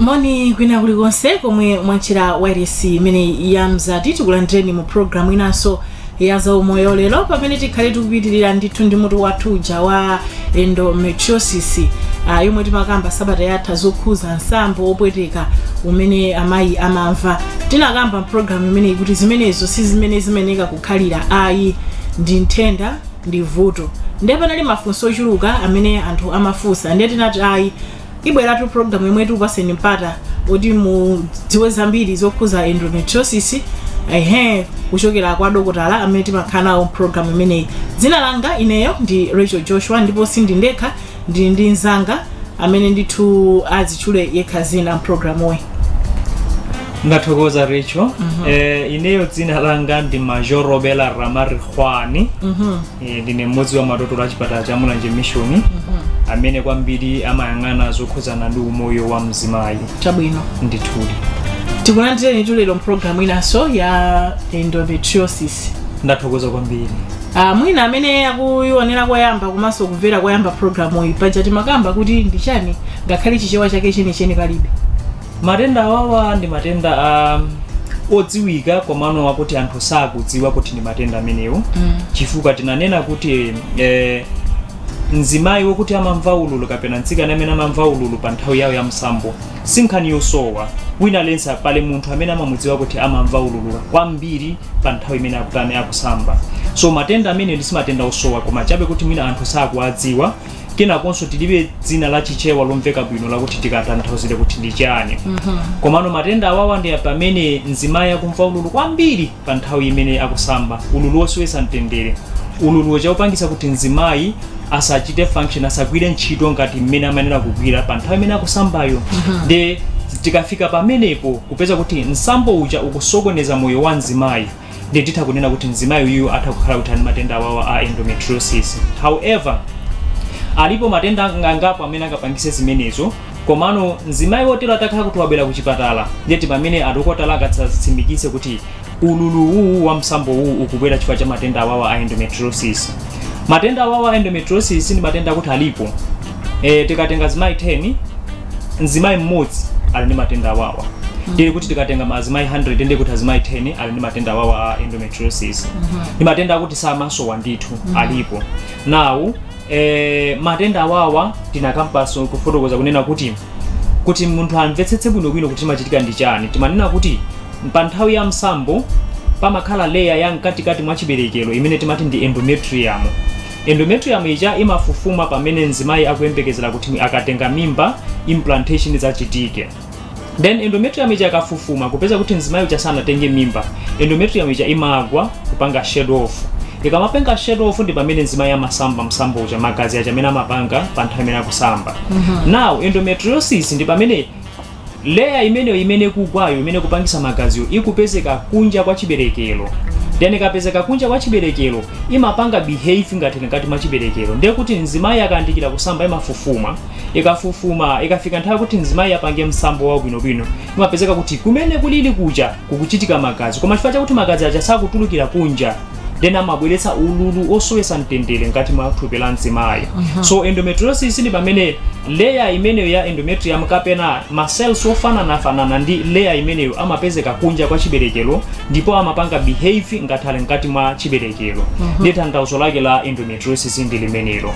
moni kwina kulikonse komwe mwatchera wailesi imeneyi ya mzati tikulandireni mu programu inanso ya zaumoyo lero pamene tikhale tikupitirira ndithu ndi mutu wathu uja wa endometriosis uh, yomwe timakamba sabata yatha zokhuza msambo opweteka umene amayi amamva tinakamba mpulogalamu imeneyi kuti zimenezo si zimene zimeneka kukhalira ayi ndi nthenda ndi vuto ndiye panali mafunso ochuluka amene anthu amafunsa ndiye tinati ayi ibweratu program yomwe tikupatseni mpata kuti mudziwe zambiri zokhuza endometriosis ehe kuchokera kwa dokotala amene timakhala nawo program imeneyi dzina langa ineyo ndi rachel joshua ndipo sindili ndekha ndili ndi mzanga amene ndithu azitchule yekha dzina mprogramuyi ndathokoza rachel eh, ineyo dzina langa ndi major robela ramarikhwani Eh, ndine m'modzi wa madokotala a chipatala cha mulanje mission amene kwambiri amayang'ana zokhudzana ndi umoyo wa mzimayi chabwino ndithudi tikulandireni tulero mpulogalamu inanso ya endometriosis ndathokoza kwambiri Ah, mwina amene akuyionera koyamba komanso kumvera koyamba pulogalamu iyi paja timakamba kuti ndi chani ngakhale chichewa chake chenicheni palibe matenda awawa ndi matenda odziwika komano akuti anthu sakudziwa kuti ndi matenda amenewo chifukwa tinanena kuti eh, mzimayi wokuti amamva ululu kapena mtsikana amene amamva ululu pa nthawi yawo ya msambo si nkhani yosowa wina aliyense pali munthu amene amamudziwa kuti amamva ululu kwambiri pa nthawi imene akutani akusamba so matenda amenewo ndi si matenda osowa koma chabe kuti mwina anthu sakuwadziwa kenakonso tilibe dzina la chichewa lomveka bwino lakuti tikatanthauzire kuti ndi chani komano matenda awawa ndi pamene mzimayi akumva ululu kwambiri pa nthawi imene akusamba ululu wosowetsa mtendere ululu woti ukupangisa kuti mzimayi asachite function asagwire ntchito ngati mmene amayenera kugwira pa nthawi imene akusambayo nde tikafika pamenepo kupeza kuti msambo uja ukusokoneza moyo wa mzimayi ndi titha kunena kuti mzimayi uyu atha kukhala kuti ali ndi matenda awawa a endometriosis however alipo matenda ang- angapo amene angapangise zimenezo komano mzimayi wotero atakhala kuti wabwera kuchipatala ndiye ndi pamene adokotala angatsimikize kuti ululu uwu wa msambo uwu ukubwera chifukwa cha matenda awawa a endometriosis matenda awawa a endometriosis ndi matenda akuti alipo e, tikatenga azimayi 10 mzimayi m'modzi ali ndi matenda awawa ndiye kuti tikatenga azimayi 100 ndiye kuti azimayi 10 ali ndi matenda awawa a endometriosis ndi matenda akuti samasowa ndithu alipo now e, matenda awawa tinakambanso kufotokoza kunena kuti kuti munthu amvetsetse bwinobwino kuti chimachitika ndi chani timanena kuti pa nthawi ya msambo pamakhala layer ya mkatikati mwa chiberekero imene timati ndi endometrium endometrium ija imafufuma pamene mzimayi akuyembekezera kuti akatenga mimba implantation idzachitike then endometrium ija ikafufuma kupeza kuti mzimayi uja sanatenge mimba endometrium ija imagwa kupanga shed off ikamapanga shed off ndi pamene mzimayi amasamba msambo uja magazi aja amene amapanga pa nthawi imene akusamba now endometriosis ndi pamene Layer imeneyo imene ikugwayo imene ikupangisa magaziyo ikupezeka kunja kwa chibelekelo then ikapezeka kunja kwa chibelekelo imapanga behave ngati ili mkati mwa chibelekelo ndiye kuti mzimayi akayandikira kusamba imafufuma ikafufuma ikafika nthawi kuti mzimayi apange msambo wake bwinobwino imapezeka kuti kumene kulili kuja kukuchitika magazi koma chifukwa chakuti magazi aja sakutulukira kunja then amabweretsa ululu osowesa mtendere mkati mwa thupi la mzimayi so endometriosis ndi pamene leya imeneyo ya endometrium kapena macells ofananafanana ndi leya imeneyo amapezeka kunja kwa chiberekero ndipo amapanga behave ngati ali mkati mwa chiberekero ndi tanthauzo lake la endometriosis ndi limenelo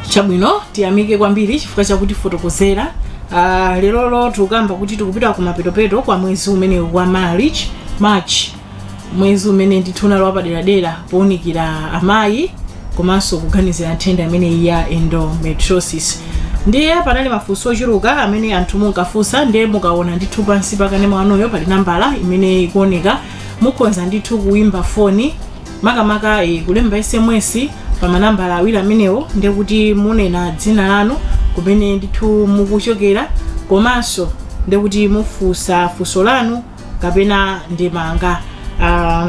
chabwino tiyamike kwambiri chifukwa chotifotokozera uh, lerolo tikukamba kuti tikupita ku mapetopeto kwa mwezi umenewu wa march march mwezi umene ndithu unali wapaderadera pounikira amayi komanso kuganizira nthenda imeneyi ya endometriosis ndiye panali mafunso ochuluka amene anthu ankafunsa ndiye mukaona ndithu pansi pa kanema wanuyo pali nambala imene ikuoneka mukhonza ndithu kuimba foni makamaka eh, kulemba sms pa manambala awiri amenewo ndiye kuti munena dzina lanu kumene ndithu mukuchokera komanso ndiye kuti mufunsa funso lanu kapena ndemanga uh,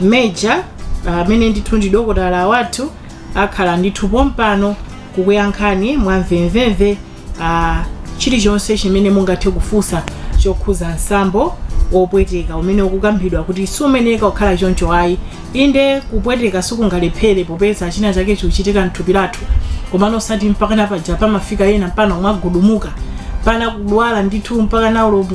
major amene uh, ndithu ndi dokotala wathu akhala ndithu pompano kukuyankhani mwamvemvemve uh, chilichonse chimene mungathe kufunsa chokhuza msambo wopweteka umene ukukambidwa kuti siumayeneka kukhala choncho ayi inde kupweteka sikungalephere popeza china chake chikuchitika mthupi lathu komano osati mpakana paja pamafika ena mpakana kumagudumuka mpakana kudwala ndithu mpaka nawo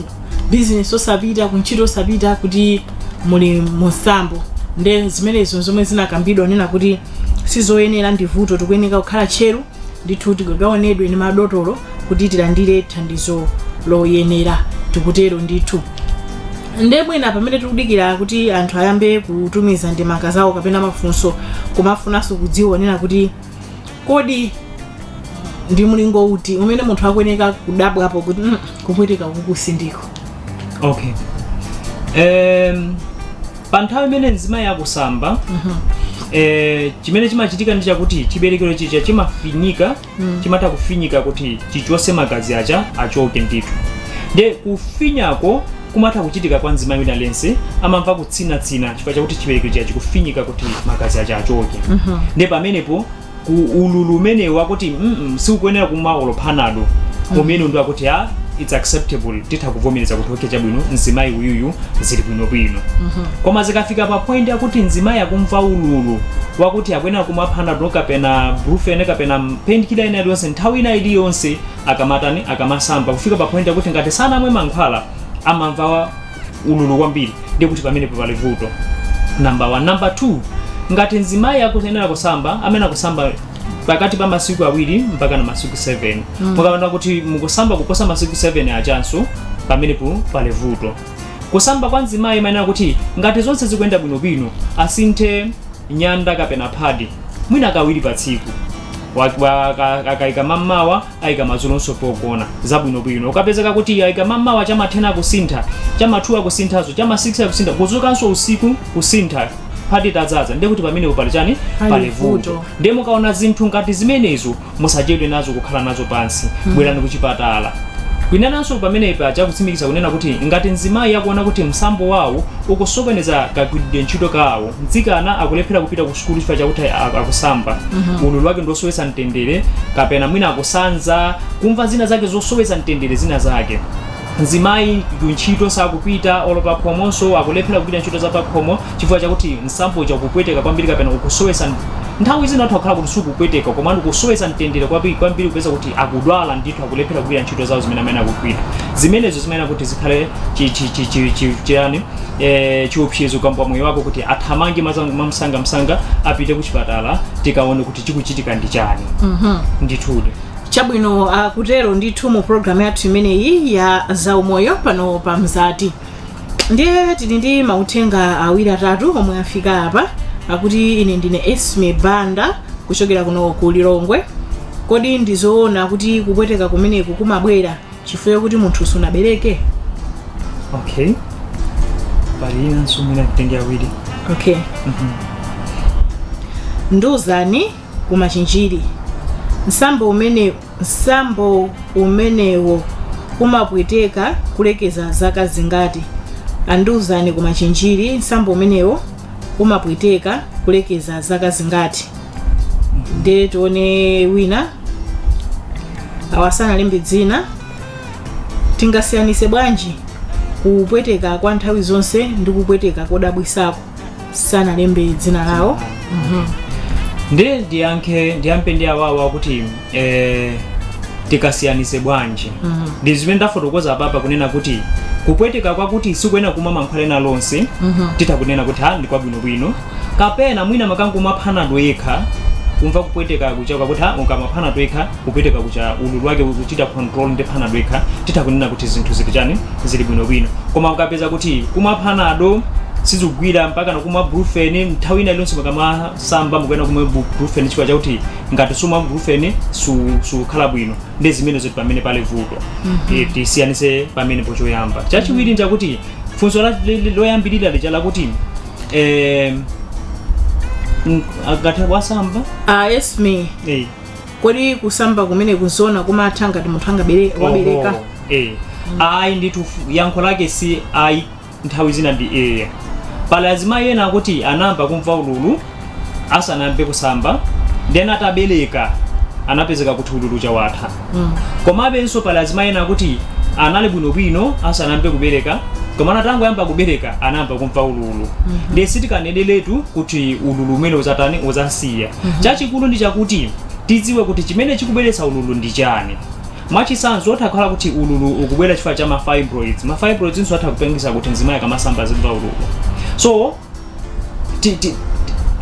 bizinesi osapita kuntchito osapita kuti muli mumsambo nde zimenezo zomwe zinakambidwa kunena kuti sizoyenera ndi vuto tikuyeneka kukhala tcheru ndithu tikaonedwe ndi madotolo kuti tilandire thandizo loyenera tikutero ndithu nde mwina pamene tikudikira kuti anthu ayambe kutumiza ndemanga zawo kapena mafunso timafunanso kudziwa kunena kuti kodi ndi mlingo uti umene munthu akuyeneka kudabwapo kuti "Mm, kupweteka uku sindiko okay um, pa nthawi imene mzimayi akusamba eh, chimene chimachitika ndi chakuti chiberekero chija chimafinyika chimatha kufinyika kuti chichose magazi aja achoke ndithu nde kufinyikako kumatha kuchitika kwa mzimayi wina aliyense amamva kutsinatsina chifukwa chakuti chiberekero chija chikufinyika kuti magazi aja achoke nde pamenepo ku ululu umenewu akuti mm sikukuyenera kumwa olo panado umene ndi akuti its acceptable titha kuvomereza kuti okay chabwino mzimayi uyuyu zili bwinobwino koma zikafika pa point yakuti mzimayi akumva ululu wakuti akuyenera kumwa panado kapena brufen kapena painkiller ina iliyonse nthawi ina iliyonse akamatani akamasamba kufika pa point yakuti ngati sanamwe mankhwala amamva wa- ululu kwambiri ndiye kuti pamenepo pali vuto namba 1 namba 2 ngati mzimayi akuyenera kusamba amene akusamba pakati pa masiku awiri mpaka na masiku 7 mukaona kuti mukusamba kuposa masiku 7 ajanso pamenepo pali vuto kusamba kwa mzimayi imayenera kuti ngati zonse zikuyenda bwinobwino asinthe nyanda kapena phadi mwina kawiri pa tsiku Wa- wa- aka- akaika mammawa aika madzulonso pogona zabwinobwino ukapezeka kuti aika mammawa cha ma 10 akusintha cha ma 2 akusinthanso cha ma 6 akusintha kuzukanso usiku kusintha phadi itadzadza ndiye kuti pamenepo pali chani Pali pali vuto. vuto ndiye mukaona zinthu ngati zimenezo Musachedwe nazo kukhala nazo pansi. Bwerani kuchipatala. Kwinanso pamene paja kutsimikiza kunena kuti ngati mzimayi akuona kuti msambo wawo ukusokoneza kagwiridwe ntchito kawo, mtsikana akulephera kupita ku sukulu chifukwa chakuti akusamba, ululu wake ndi wosowetsa mtendere kapena mwina akusanza, kumva zina zake zosowetsa mtendere zina zake. Mzimayi kuntchito sakupita olo pakhomonso akulephera kugwira ntchito zapakhomo. chifukwa chakuti msambo uja ukupweteka kwambiri kapena ukusowetsa nt- nthawi zina anthu akhala kuti sukupweteka koma ukusowetsa mtendere kwambiri kwambiri kupeza kuti akudwala ndithu akulephera kugwira ntchito zawo zimene amene akugwira zimenezo zimayenera kuti zikhale chi- chi- chi- chi- chi- chiyani eh, chiopsezo kwa moyo wako kuti athamange mazangu mamsangamsanga apite ku chipatala tikaone kuti chikuchitika ndi chani ndithudi chabwino kutero ndithu mu programu yathu imeneyi ya zaumoyo pano pa mzati ndiye tili ndi mauthenga awiri atatu omwe afika apa akuti ine ndine esme banda kuchokera kuno ku lilongwe kodi ndizoona kuti kupweteka kumeneku kumabwera chifukwa kuti munthu sunabereke okay pali enanso mwina nditenge awiri okay nduzani ku machinjiri msambo umene msambo umenewo umapweteka kulekeza zaka zingati a Nduzani ku machinjiri msambo umenewo umapweteka kulekeza zaka zingati nde tione wina awa sanalembe dzina tingasiyanise bwanji kupweteka kwa nthawi zonse ndi kupweteka kodabwisako sanalembe dzina lawo ndiye ndiyankhe ndiyambe ndi awawa kuti eh, tikasiyanise bwanji ndi zimene ndafotokoza apapa kunena kuti kupweteka kwakuti sikuyenera kumwa mankhwala ena alionse titha kunena kuti ha ndi kwabwinobwino kapena mwina mukangomwa phanado yekha kumva kupweteka kuja kwakuti ha ukamwa phanado yekha kupweteka kuja ululu wake ukuchita control ndi panado yekha titha kunena kuti zinthu zili chani zili bwinobwino koma ukapeza kuti kumwa panado sizikugwira mpaka kumwa brufen nthawi ina iliyonse mukamasamba mukuyenera kumwa bu- brufen chifukwa chakuti ngati sumwa brufen su- sukhala bwino nde zimenezo ti pamene pali vuto Eh, tisiyanise pamene pochoyamba chachiwiri nchakuti funso la- li- li- loyambirira lija lakuti eh, mm, akati wasamba Ah, yes me. eh, kodi kusamba kumeneku nzona kumatha ngati munthu angabere wabereka Oho, eh. ayi ndithu fu- yankho lake si ayi nthawi zina ndi eya pali azimayi ena akuti anayamba kumva ululu asanayambe kusamba then atabereka anapezeka kuti ululu uja watha Mm. komabenso pali azimayi ena akuti anali bwinobwino asanayambe kubereka komano atangoyamba kubereka anayamba kumva ululu ndiye sitikaneneletu kuti ululu umene uzatani uzasiya chachikulu ndi chakuti tidziwe kuti chimene chikubweretsa ululu ndi chani mwachitsanzo utha kukhala kuti ululu ukubwera chifukwa cha mafibroids mafibroids nawonso atha kupangitsa kuti mzimayi akamasamba azimva ululu so ti, ti,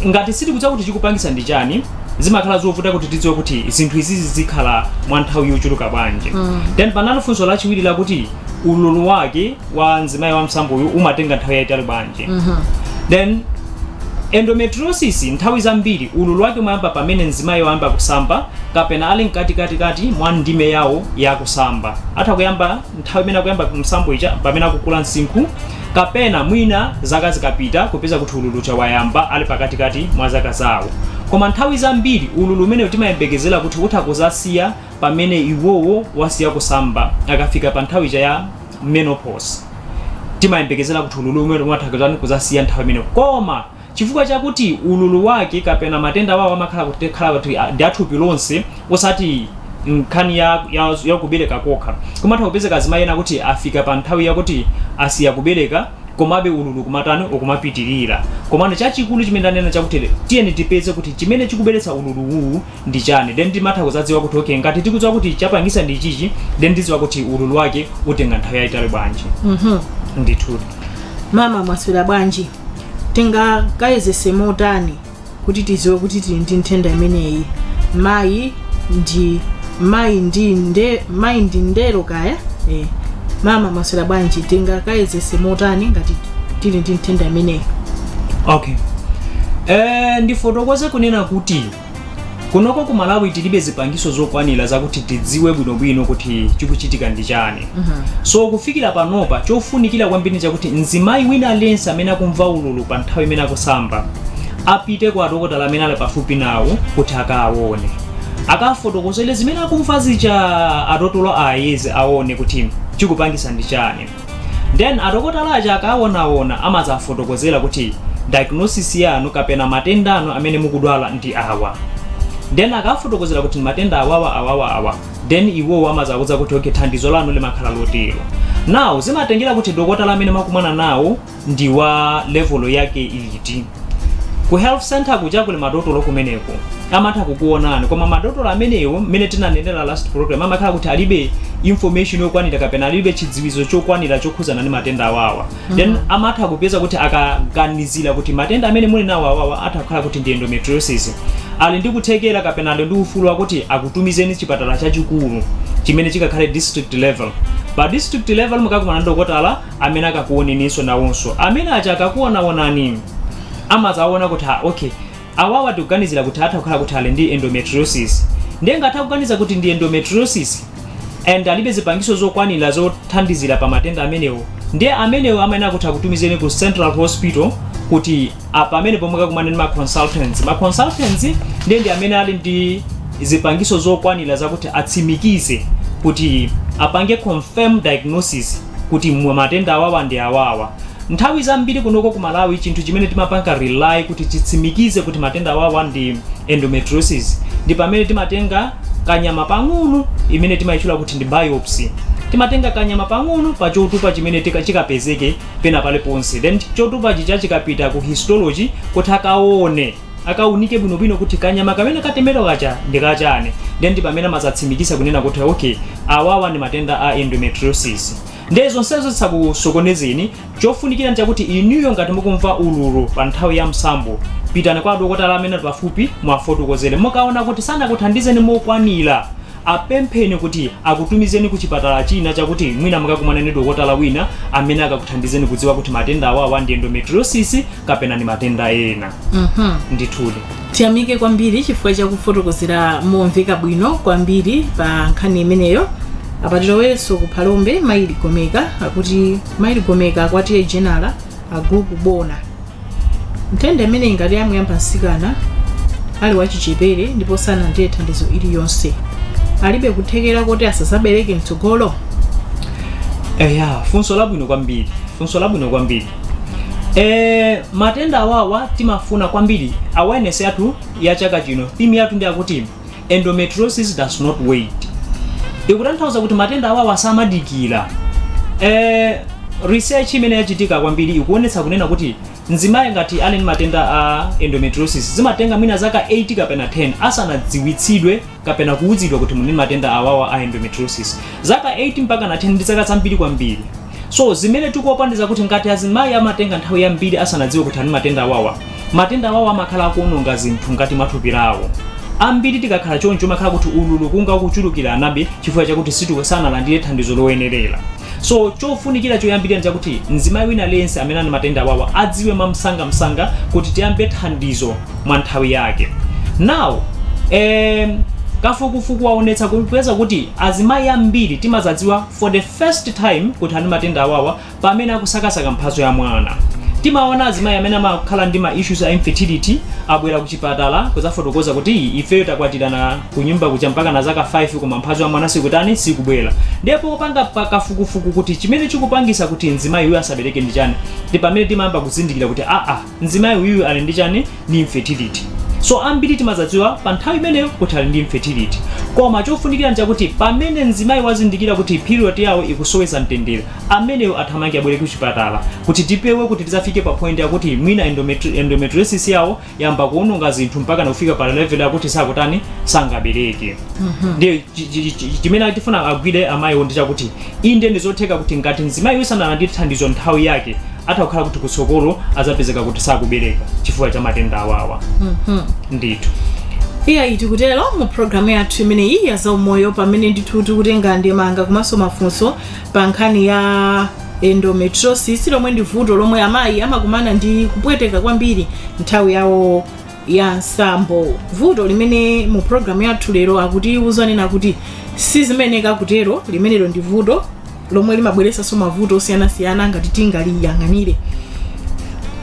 ngati sitikudziwa kuti chikupangitsa ndi chani zimakhala zovuta kuti tidziwe kuti zinthu izizi zikhala mwa nthawi yochuluka bwanji then panali funso lachiwiri lakuti ululu wake wa mzimayi wa msambo uyu umatenga nthawi yayitali bwanji then endometriosis nthawi zambiri ululu wake umayamba pamene mzimayi wayamba kusamba kapena ali mkatikatikati mwa ndime yawo yakusamba atha kuyamba nthawi imene akuyamba msambo ija pamene akukula msinkhu kapena mwina zaka zikapita kupeza kuti ululu uja wayamba ali pakatikati mwa zaka zawo koma nthawi zambiri ululu umenewu timayembekezera kuti utha kuzasiya pamene iwowo asiya kusamba akafika pa nthawi ija ya menopause timayembekezera kuti ululu umene utha kuzatani kuzasiya nthawi imene koma chifukwa chakuti ululu wake kapena matenda wawo amakhala kuti khala kuti a- ndi athupi lonse osati nkhani ya, ya, ya kubereka kokha kumatha kupezeka azimayi ena kuti afika pa nthawi yakuti asiya kubereka komabe ululu ukumatani ukumapitirira komano chachikulu chimene ndanena chakuti tiyeni tipeze kuti chimene chikubweretsa ululu uwu ndi chani then timatha kuzadziwa kuti okay ngati tikudziwa kuti chapangisa ndi ichichi then tidziwa kuti ululu wake utenga nthawi yayitali bwanji Mhm. ndithu mama mwaswera bwanji tingakayezese motani kuti tidziwe kuti tili ndi nthenda imeneyi mayi ndi mayi ndi nde mayi ndi ndero kaya eh. mama mwaswera bwanji tingakayezese motani ngati tili ndi nthenda imeneyi okay eh, ndifotokoze kunena kuti kunoko ku malawi tilibe zipangiso zokwanira zakuti tidziwe bwinobwino kuti chikuchitika ndi chani so kufikira panopa chofunikira kwambiri chakuti mzimayi wina aliyense amene akumva ululu pa nthawi imene akusamba apite kwa adokotala amene ali pafupi nawo kuti akawaone akafotokozere zimene akumva zija adotolo ayeze aone kuti chikupangisa ndi chani Then adokotala aja akawaonaona amadzafotokozera kuti diagnosis yanu kapena matenda anu amene mukudwala ndi awa. Then akawafotokozera kuti matenda awawa awawa awa. Then iwowo amadzawudza kuti okay thandizo lanu limakhala lotero. Now zimatengera kuti dokotala amene mwakumana nawo ndi wa level yake iti ku health center kuja kuli madotolo kumeneko amatha kukuonani koma madotolo amenewo mmene tinanenera last program amakhala kuti alibe information yokwanira kapena alibe chidziwitso chokwanira chokhuzana ndi matenda awawa then amatha kupeza kuti akaganizira kuti matenda amene muli nawo awawa atha kukhala kuti ndi endometriosis ali ndi kuthekera kapena ali ndi ufulu wakuti akutumizeni chipatala chachikulu chimene chikakhale district level pa district level mukakumana ndi dokotala amene akakuoneninso nawonso amene aja akakuonaonani amazaona kuti ha okay awawa tikuganizira kuti atha kukhala kuti ali ndi endometriosis ndiye ngati akuganiza kuti ndi endometriosis and alibe zipangizo zokwanira zothandizira pa matenda amenewo ndiye amenewo amayenera kuti akutumizeni ku central hospital kuti pamene pomwe mukakumana ndi ma consultants ma consultants ndiye ndi amene ali ndi zipangizo zokwanira zakuti atsimikize kuti apange confirm diagnosis kuti matenda awawa ndi awawa. Nthawi zambiri kunoko ku Malawi chinthu chimene timapanga rely kuti chitsimikize kuti matenda awawa ndi endometriosis ndi pamene timatenga kanyama pang'ono imene timaitchula kuti ndi biopsy. Timatenga kanyama pang'ono pa chotupa chimene chikapezeke pena paliponse then chotupa chija chikapita ku histology kuti akaone akaunike bwinobwino kuti kanyama kamene katemedwa kaja ndi kachani ndiye ndi pamene amazatsimikiza kunena kuti okay awawa ndi matenda a endometriosis ndiye zonsezo zisakusokonezeni chofunikira ndi chakuti inuyo ngati mukumva ululu pa nthawi ya msambo pitani kwa adokotala amene ali pafupi muwafotokozere mukaona kuti sanakuthandizeni mokwanira Apempheni kuti akutumizeni ku chipatala china chakuti mwina mukakumane ndi dokotala wina amene akakuthandizeni kudziwa kuti matenda awawa ndi endometriosis kapena ndi matenda ena. Ndithudi. tiyamike kwambiri chifukwa chakufotokozera momveka bwino kwambiri pa nkhani imeneyo apa tilowenso ku phalombe mayi Ligomeka akuti mayi Ligomeka a kwa T/A Jenala a gulupu Bona nthenda imeneyi ngati yamuyamba mtsikana ali wachichepere ndipo sanalandire thandizo lililonse ilibe kuthekera koti asadzabereke mtsogolo eya funso labwino kwambiri funso labwino kwambiri e, matenda awawa timafuna kwambiri awareness yathu ya chaka chino theme yathu ndi akuti endometriosis does not wait ikutanthauza kuti matenda awawa samadikira eh, research imene yachitika kwambiri ikuonetsa kunena kuti mzimayi ngati ali ndi matenda a endometriosis zimatenga mwina zaka 8 kapena 10 asanadziwitsidwe kapena kuwuzidwa kuti muli ndi matenda awawa a endometriosis zaka 8 mpaka na 10 ndi zaka zambiri kwambiri So zimene tikuopa ndi zakuti ngati azimayi amatenga nthawi yambiri asanadziwe kuti ali ndi matenda awawa, matenda awawa amakhala akuononga zinthu mkati mwa thupi lawo. Ambiri tikakhala choncho umakhala kuti ululu ukunka ukuchulukiranabe chifukwa chakuti situ sanalandire thandizo loyenerera. So chofunikira choyambirira ndi chakuti mzimayi wina aliyense amene ali ndi matenda awawa adziwe mwamsangamsanga kuti tiyambe thandizo mwa nthawi yake. Now, em, kafukufuku waonetsa kupeza kuti azimayi ambiri timadzadziwa for the First time kuti ali ndi matenda awawa pamene akusakasaka mphatso ya mwana. Timaona azimayi amene amakhala ndi ma issues a infertility abwera kuchipatala kudzafotokoza kuti ifeyo takwatirana kunyumba kuja mpaka na zaka 5 koma mphatso ya mwana sikutani sikubwera. Ndiye popangapo kafukufuku kuti chimene chikupangisa kuti mzimayi uyu asabereke ndi chani ndi pamene timayamba kuzindikira kuti aa mzimayi uyuyu ali ndi chani ndi infertility so ambiri timazadziwa pa nthawi imeneyo kuti ali ndi infertility koma chofunikira nchakuti pamene mzimayi wazindikira kuti period yawo ikuwasowetsa mtendere ameneyo athamange abwere ku chipatala kuti tipewe kuti tizafike pa point yakuti mwina endometri- endometriosis yawo yayamba kuononga zinthu mpaka nakufika pa level yakuti sakutani sangabereke ndiye chi- chi- chi- chimene tifuna agwire amayiwo ndi chakuti Inde, ndi zotheka kuti ngati mzimayiyu sanalandire thandizo m'nthawi yake, atha kukhala kuti kutsogolo adzapezeka kuti sakubereka chifukwa cha matenda awawa. Ndithu. iyayi tikutero mu programu yathu imeneyi ya zaumoyo pamene ndithu tikutenga ndemanga komanso mafunso pa nkhani ya endometriosis lomwe ndi vuto lomwe amayi amakumana ndi kupweteka kwambiri nthawi yawo ya msambo vuto limene mu programu yathu lero akutiuza kunena kuti sizimayenera kutero limenelo ndi vuto lomwe limabweretsanso mavuto osiyanasiyana ngati sitingaliyang'anire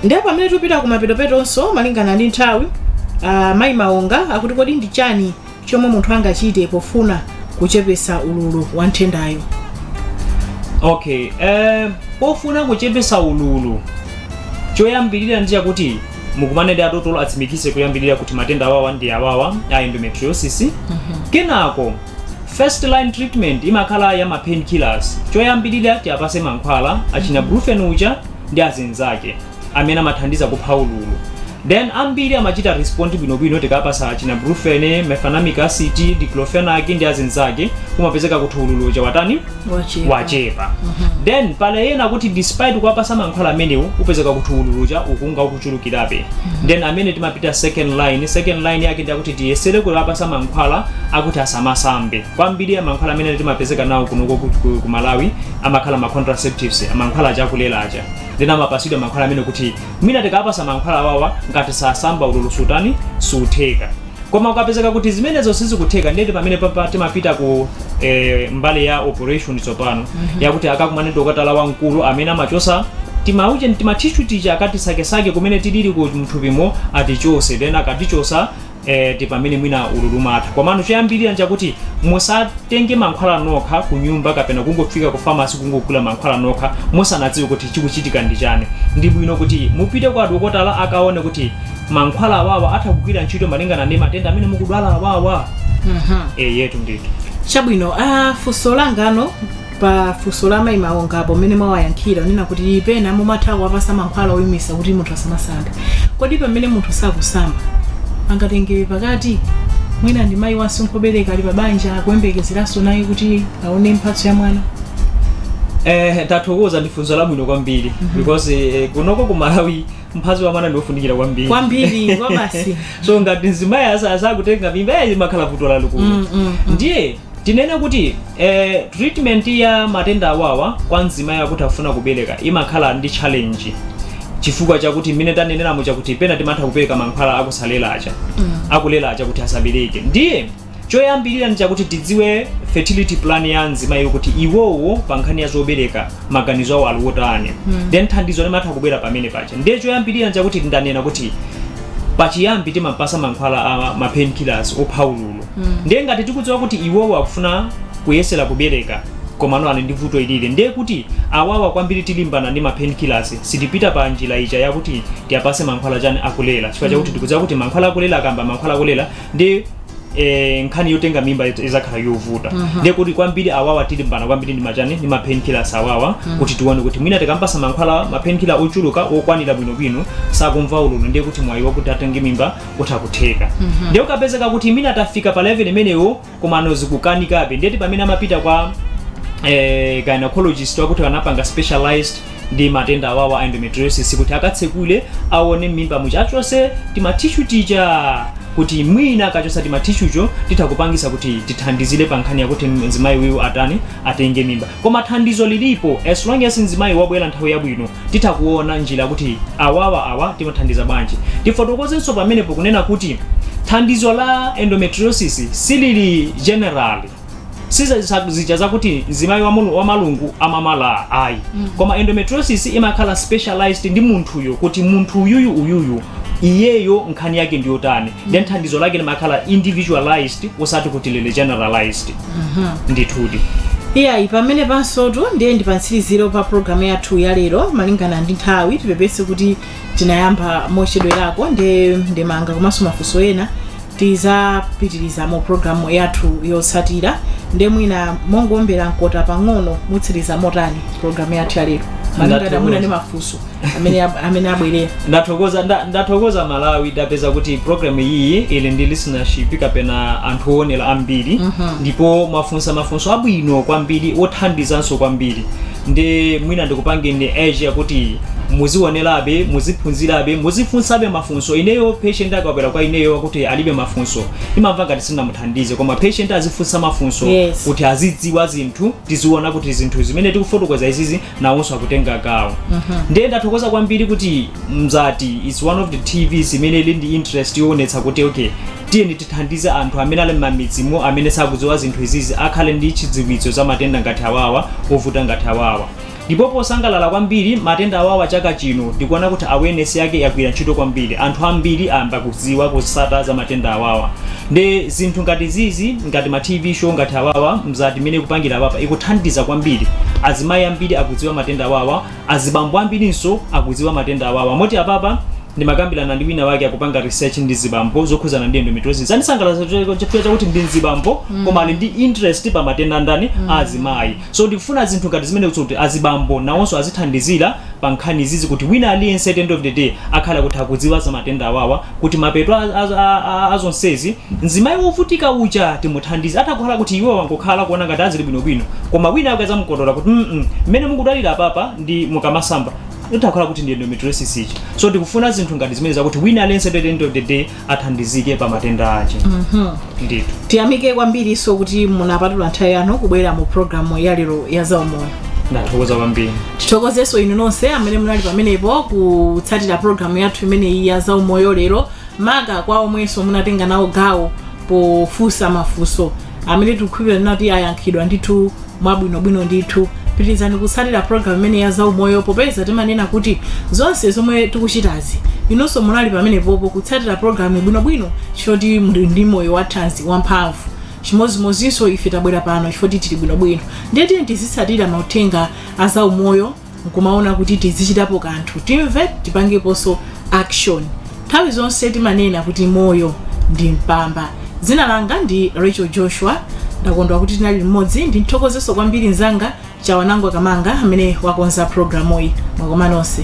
ndiye pamene tupita ku mapetopetonso malingana ndi nthawi uh, mayi maonga akuti kodi ndi chani chomwe munthu angachite pofuna kuchepesa ululu wa nthendayo okay eh, pofuna kuchepesa ululu choyambirira ndi chakuti mukumane ndi adotolo atsimikize kuyambirira kuti matenda awawa ndi awawa a endometriosis kenako first line treatment imakhala ya ma painkillers choyambirira tiapase mankhwala achina brufen uja ndi azinzake amene amathandiza kupha ululu then ambiri amachita respond bwinobwino tikapasa achina brufen mefenamic acid diclofenac ndi azinzake umapezeka kuti ululu uja watani Wachepa. wachepa then pali ena kuti despite kuwapasa mankhwala amenewo umapezeka kuti ululu uja ukunga ukuchulukirabe then amene timapita second line second line yake ndi akuti tiyesere kuwapasa mankhwala akuti asamasambe kwambiri ya mankhwala amene timapezeka nawo kunoko ku- ku ku malawi amakhala ma contraceptives mankhwala aja akulera aja then amapasidwa mankhwala amene kuti mwina tikapasa mankhwala awawa ngati sasamba ululu sutani sutheka koma ukapezeka kuti zimenezo sizikutheka ndeti pamene papa timapita ku eh, mbali ya operation tsopano yakuti akakumane dokotala wamkulu amene amachosa timauche timatishu tija akatisakesake kumene tidili ku mthupimo atichose then akatichosa e, ndi pamene mwina ululu umatha komano choyambirira nchakuti musatenge mankhwala nokha ku nyumba kapena kungofika ku famasi kungogula mankhwala nokha musanadziwe kuti chikuchitika ndi chani ndi bwino kuti mupite kwa dokotala akaone kuti mankhwala awawa atha kugwira ntchito malingana ndi matenda amene mukudwala awawa Mhm. eyetu ndithu chabwino ah, funso langa lino pa funso la mayi maonga apo mmene mwawayankhira munanena kuti pena mumatha kuwapasa mankhwala oyimisa kuti munthu asamasambe kodi pamene munthu sakusamba angatengebe pakati mwina ndi mayi wasinkhu wobereka ali pabanja akuyembekezeranso naye kuti aone mphatso ya mwana eh, tathokoza ndi funso labwino kwambiri because eh, kunoko ku malawi mphatso ya mwana ndiofunikira kwambiri kwambiri kwabasi so ngati mzimayi asakutenga mimba yayi imakhala vuto lalikulu Mm, mm, mm. ndiye Tinene kuti eeh treatment ya matenda awawa kwa mzimayi akuti akufuna kubereka imakhala ndi challenge chifukwa chakuti mmene tanenera muja kuti pena timatha kupereka mankhwala akusalera aja akulera aja kuti asabereke ndiye choyambirira ndi chakuti tidziwe fertility plan ya mzimayiyo kuti iwowo pa nkhani ya zobereka maganizo awo ali otani then thandizo limatha kubwera pamene paja ndiye choyambirira ndi chakuti ndanena kuti pachiyambi timampasa mankhwala a ma painkillers opha ululu ndiye ngati tikudziwa kuti iwowo akufuna kuyesera kubereka komano ali ndi vuto ilili ndiye kuti awawa kwambiri tilimbana ndi ma painkillers sitipita pa njira ija yakuti tiwapase mankhwala chani akulera chifukwa chakuti tikudziwa kuti mankhwala akulera akamba mankhwala akulera ndi eh, nkhani yotenga mimba iz- izakhala yovuta ndiye kuti kwambiri awawa tilimbana kwambiri ndi machani ndi ma painkillers awawa kuti tione kuti mwina tikampasa mankhwala ma painkiller ochuluka okwanira bwinobwino sakumva ululu ndiye kuti mwayi wakuti atenge mimba kutha kutheka ndiye ukapezeka kuti mwina atafika pa level imeneyo komano zikukanikabe ndiyeti pamene amapita kwa eh, gynecologist wakuti anapanga specialized ndi matenda awawa a endometriosis kuti akatsekule aone mmimba muja achose timathishu tija kuti mwina akachosa timathishucho titha kupangisa kuti tithandizire pa nkhani yakuti mzimayi uyu atani atenge mimba Koma thandizo lilipo as long as mzimayi wabwera nthawi yabwino titha kuona njira kuti awawa awa timathandiza bwanji. Tifotokozenso pamenepo kunena kuti thandizo la endometriosis silili general si zazija zakuti mzimayi wa mulu- wa malungu amamala ayi koma endometriosis imakhala specialized ndi munthuyo kuti munthu uyuyu uyuyu iyeyo nkhani yake ndiyotani then thandizo lake limakhala individualized osati kuti lili generalized ndithudi iyayi pamene panonsotu ndiye ndi pamtsiriziro pa programu yathu ya lero malingana ndi nthawi tipepese kuti tinayamba mochedwerako ndiye ndemanga komanso mafunso ena tizapitiriza mu programu yathu yotsatira ndiye mwina mongoombera mkota pang'ono mutsiriza motani programu yathu ya lero malingana mwina ndi mafunso amene ab- amene abwerera ndathokoza nda- ndathokoza malawi ndapeza kuti programu iyi ili ndi listenership kapena anthu owonera ambiri ndipo mwafunsa mafunso abwino kwambiri othandizanso kwambiri ndiye mwina ndikupangeni assure kuti muziwonerabe muziphunzirabe muzifunsabe mafunso ineyo patient akabwera kwa ineyo kuti alibe mafunso ndimamva ngati sindinamuthandize koma patient azifunsa mafunso Yes. kuti azidziwa zinthu tiziona kuti zinthu zimene tikufotokoza izizi nawonso akutenga gawo ndiye ndathokoza kwambiri kuti mzati is one of the tvs imene ili ndi interest yoonetsa kuti okay tiyeni tithandize anthu amene ali m'mamidzimo amene sakudziwa zinthu izizi akhale ndi chidziwitso za matenda ngati awawa ovuta ngati awawa ndipo posangalala kwambiri matenda awawa chaka chino ndikuona kuti awareness yake yagwira ntchito kwambiri anthu ambiri ayamba kudziwa kutsata za matenda awawa nde zinthu ngati izizi ngati ma tv show ngati awawa mzati imene ikupangira apapa ikuthandiza kwambiri azimayi ambiri akudziwa matenda awawa azibambo ambirinso akudziwa matenda awawa moti apapa ndimakambirana ndi wina wake akupanga research ndi mzibambo zokhudzana ndi endometriosis zandisangalatsa chifukwa chakuti ndi mzibambo koma ali ndi interest pa matenda a ndani a azimayi So ndikufuna zinthu ngati zimenezo kuti azibambo nawonso azithandizira pa nkhani izizi kuti wina aliyense at the end of the day akhale kuti akudziwa za matenda awawa kuti mapeto a, a, a, a, a zonsezi mzimayi wovutika uja timuthandize atha kukhala kuti iye wangokhala kuona ngati azili bwinobwino koma wina akazamukotola kuti mm mmene mukudwalira apapa ndi mukamasamba utha kukhala kuti ndi endometriosis ija so ndikufuna zinthu ngati zimene zakuti wina aliyense at the end of the day athandizike pa matenda ake ndithu tiyamike kwambirinso kuti munapatula nthawi yanu kubwera mu programu ya lero ya zaumoyo ndathokoza kwambiri tithokozenso inu nonse amene munali pamenepo kutsatira programu yathu imeneyi ya zaumoyo lero maka kwa omwenso munatenga nawo gawo pofunsa mafunso amene tikukhulupirira kuti ayankhidwa ndithu mwabwinobwino ndithu pitirizani kutsatira programu imene ya zaumoyo popeza timanena kuti zonse zomwe tikuchitazi inunso munali pamenepopo kutsatira programu bwinobwino chifoti muli ndi moyo wathanzi wamphamvu chimodzimodzinso ife tabwera pano chifoti tili bwinobwino ndiye tiyeni tizitsatira mauthenga a zaumoyo nkumaona kuti tizichitapo kanthu timve tipangeponso action nthawi zonse timanena kuti moyo ndi mpamba dzina langa ndi rachel joshua ndakondwa kuti tinali limodzi ndimthokozenso kwambiri mzanga chawanangwa kamanga amene wakonza programuyi mwakoma nonse